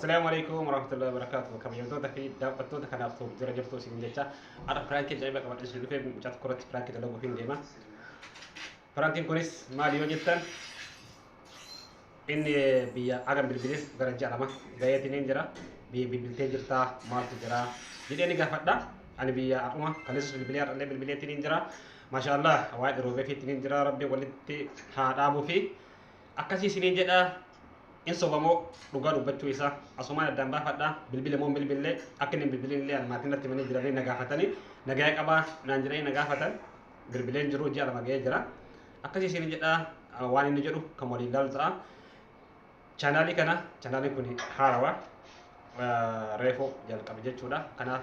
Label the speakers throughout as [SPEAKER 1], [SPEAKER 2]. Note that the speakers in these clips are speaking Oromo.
[SPEAKER 1] Assalamu alaikum warahmatullahi wabarakatuh. Kabajamtoota fi daawwattoota kanaaf ta'u jira jirtu isin jecha har'a piraankii ajaa'iba qabadhe isin dhufee mucaa tokko irratti piraankii dalaguuf hin deema. Piraankiin kunis maali yoo jettan inni biyya agam bilbilees gara ji'a lama gaheetiin hin jira. Biyya bilbiltee jirtaa maaltu jira jedhee ni gaafadha. Ani biyya akkuma kaleessas bilbilee har'allee bilbileetiin hin jira. Maashaallah waa'ee dhiroofeefiitiin hin jira rabbi walitti haa dhaabuu fi akkasii isinii jedha in sobamoo dhugaa dubbachuu isaa asumaan addaan baafadha bilbile moo bilbille akka inni hin bilbilin illee ani maatiin natti himanii jiranii na gaafatanii nagaya qabaa naan jedhanii na gaafatan bilbileen jiru ji'a lama ga'ee jira akkasii isinii jedha ah, waan inni jedhu kan waliin ilaalu ta'a chaanaalii kana chaanaalii kun haarawa reefuu jalqabe jechuudha kanaaf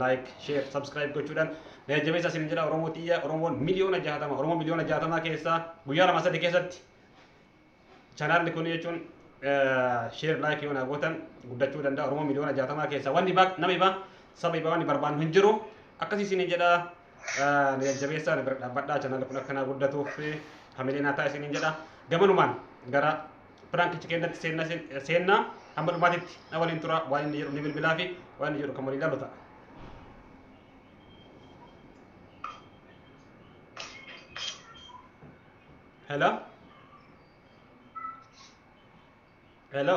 [SPEAKER 1] like share subscribe gochuudhaan na jajjabeessa isin jedha oromoo tiyya oromoon miliyoona jahatama oromoo miliyoona jahatama keessaa guyyaa lama sadii keessatti chanaalli kun jechuun share like yoo na gootan guddachuu danda'a oromoo miliyoona jahatama keessaa wanni baa nama ibaa saba ibaa wanni barbaannu hin jiru akkasii isin jedha na jajjabeessa na bira dhaabbadhaa chanaalli kun akka naa guddatuuf hamilee naa ta'a isin jedha gamanumaan gara piraankicha keessatti seenna seenna hamma dhumaatitti na waliin tura waan inni jedhu ni bilbilaa fi waan inni jedhu kan waliin ilaalu ta'a. Hello? Hello?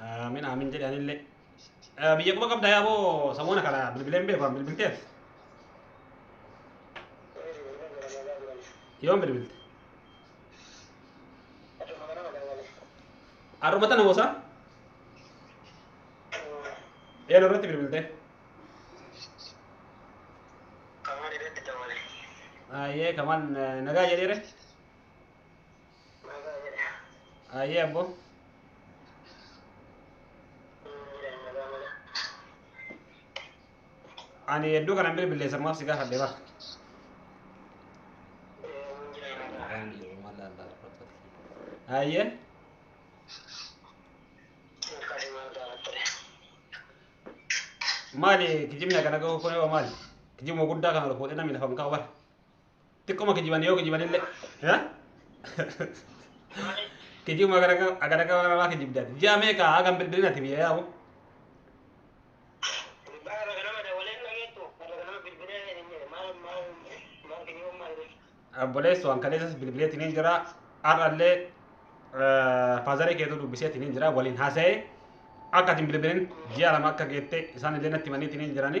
[SPEAKER 1] Aamin aamin jedhe anillee. Eh, Biyya quba qabda yaa boo samoona kana bilbileen beeku an bilbilteef. Yoon bilbilte. Har'uma tana moosa eenu irratti bilbilte. Ayyee kamaan eh, nagaa jedheere. Ayyee abbo. Ani hedduu kanan bilbilee sammaaf si gaafadhe bara. Ayyee. Maali kijibni akkana gahu kun yoo maali? Kijibuma guddaa kana ol fuudhee namni lafa hin kaa'u bara. Xiqquma kijiban yoo kijiban illee. Ha? Kijibuma gara gara gara gara namaa kijibdan. Ji'a meeqa hagam bilbilin ati biyya yaa'u? Baara ganama dawalee hin dhageettu. Baara ganama bilbilee hin jedhe. Maal maal maal kijibuun maal jedhe. Obboleessu waan kaleessas bilbileetiin hin jira. Har'allee faazaree keetu dubbiseetiin hin jira. Waliin haasa'ee akka ati hin bilbilin ji'a lama akka geette isaan illee natti himaniitiin hin jirani.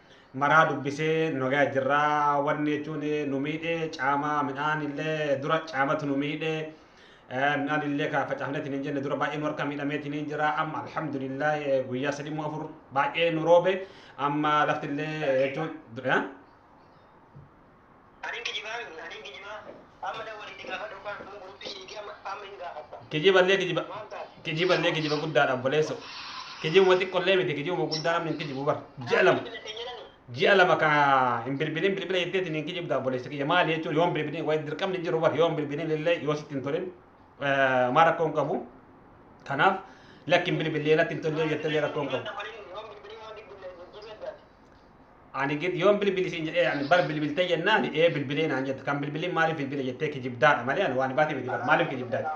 [SPEAKER 1] maraa dubbisee nagaya jirra wanni jechuun nu miidhe caama midhaan illee dura caamatu nu miidhe midhaan illee ka facaafneetiin hin jenne dura baay'ee nu harka miidhameetiin hin jira amma alhamdulillah guyyaa sadii moo afur baay'ee nu roobe amma lafti illee jechuun Anin kijibaa miti, anin kijibaa. Amma na waliin gaafadhu kan kun guruuppii siiti amma amma hin gaafadha. Kijiballee kijiba Maal taate? kijiballee kijiba guddaadha obboleesso. Kijibuma xiqqollee miti kijibuma guddaa namni hin kijibu bar. Ji'a lama Bilbila ittiin jedhani. ji'a lama ka hin bilbilin bilbila jetteetiin hin kijibda obboleessa kiyya maali jechuun yoo hin bilbilin wayi dirqamni hin jiru bar yoo hin bilbilin illee yoo sitti hin tolin eh, maa rakkoo hin qabu. Kanaaf lakki hin bilbillee natti hin tollee jettellee rakkoo hin qabu. Bilbila waliin yoo bilbilii waan bilbila jijjiiruu addaati. ani gid yoon bilbili siin jedhee ani bar bilbiltee jennaan ee bilbilee naan jette kan bilbiliin maaliif bilbile jettee kijibdaadha malee ani waan baate miti bar maaliif kijibdaadha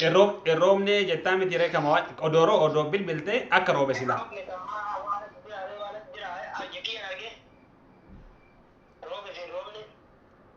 [SPEAKER 1] Irroo- irroomnee jettaa miti ree kama waan odooroo odoo bilbiltee akka roobe silaa Roobee fi roobni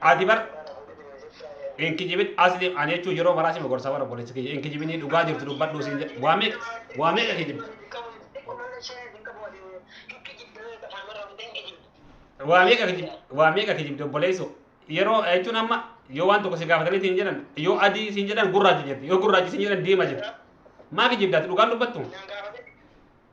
[SPEAKER 1] ati bar hin kijibin asli ani jechuu yeroo maraa si mogorsa bara obboleessi kiyya hin kijibinii dhugaa jirtu dubbadhuu siin jedhe waa meeqa waa meeqa kijibdi waa meeqa kijibdi waa meeqa kijibdi obboleessu yeroo jechuun amma yoo waan tokko si gaafatanii siin jedhan yoo adii siin jedhan gurraacha jirti yoo gurraacha siin jedhan diima jirti maa kijibdaati dhugaan dubbattu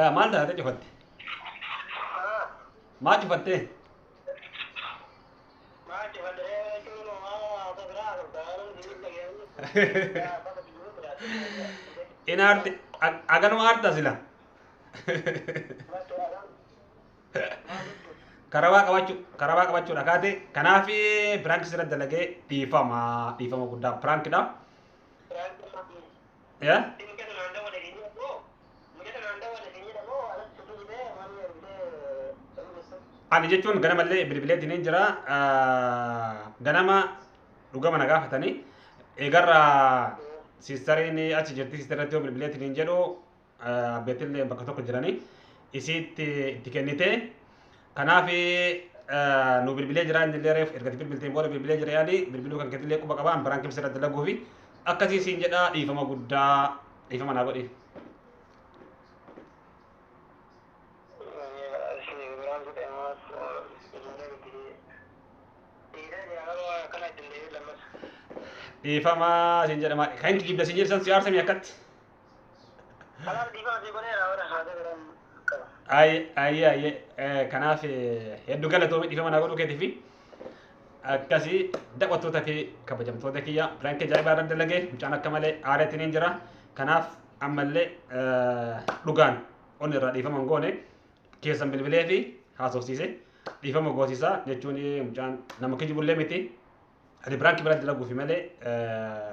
[SPEAKER 1] Eh, maal taate cufatte? Maal cufattee? In aarte ag- aganuma aarta sila. Karabaa qabachuu karabaa qabachuudha kaate kanaaf piraank sirra dalagee dhiifama dhiifama guddaa piraank dha. yaa ani jechuun ganamallee bilbilee diniin jira ganama dhugama na gaafatanii eegarraa siistariin achi jirti siistarratti yoo bilbilee diniin jedhu abbeetillee bakka tokko jiranii isiitti itti kennitee kanaaf nu bilbilee jira inni illee reef erga bilbilteen booda bilbilee jira yaani bilbiluu kan keetillee quba qabaan biraan kibsa irratti laguu fi akkasii siin jedhaa dhiifama guddaa dhiifama naa godhi. Dhiifama siin jedhama kan kijibda siin jedhisan si aarsamii akkatti. Kanaaf dhiifama sii godheera warra haasee garaan qaba. Ayi ayi ayi eh, kanaaf eh, hedduu galatoomi dhiifama naa godhuu keetiif akkasii daawwattoota fi kabajamtoota kiyya piraankii ajaa'ibaa irra dalagee mucaan akka malee aaraatiin hin jira kanaaf ammallee eh, dhugaan onni irraa dhiifama hin goone keessan bilbilee fi haasofsiise dhiifama goosisaa jechuun mucaan nama kijibullee miti ati piraankii bira dalaguufi malee eh,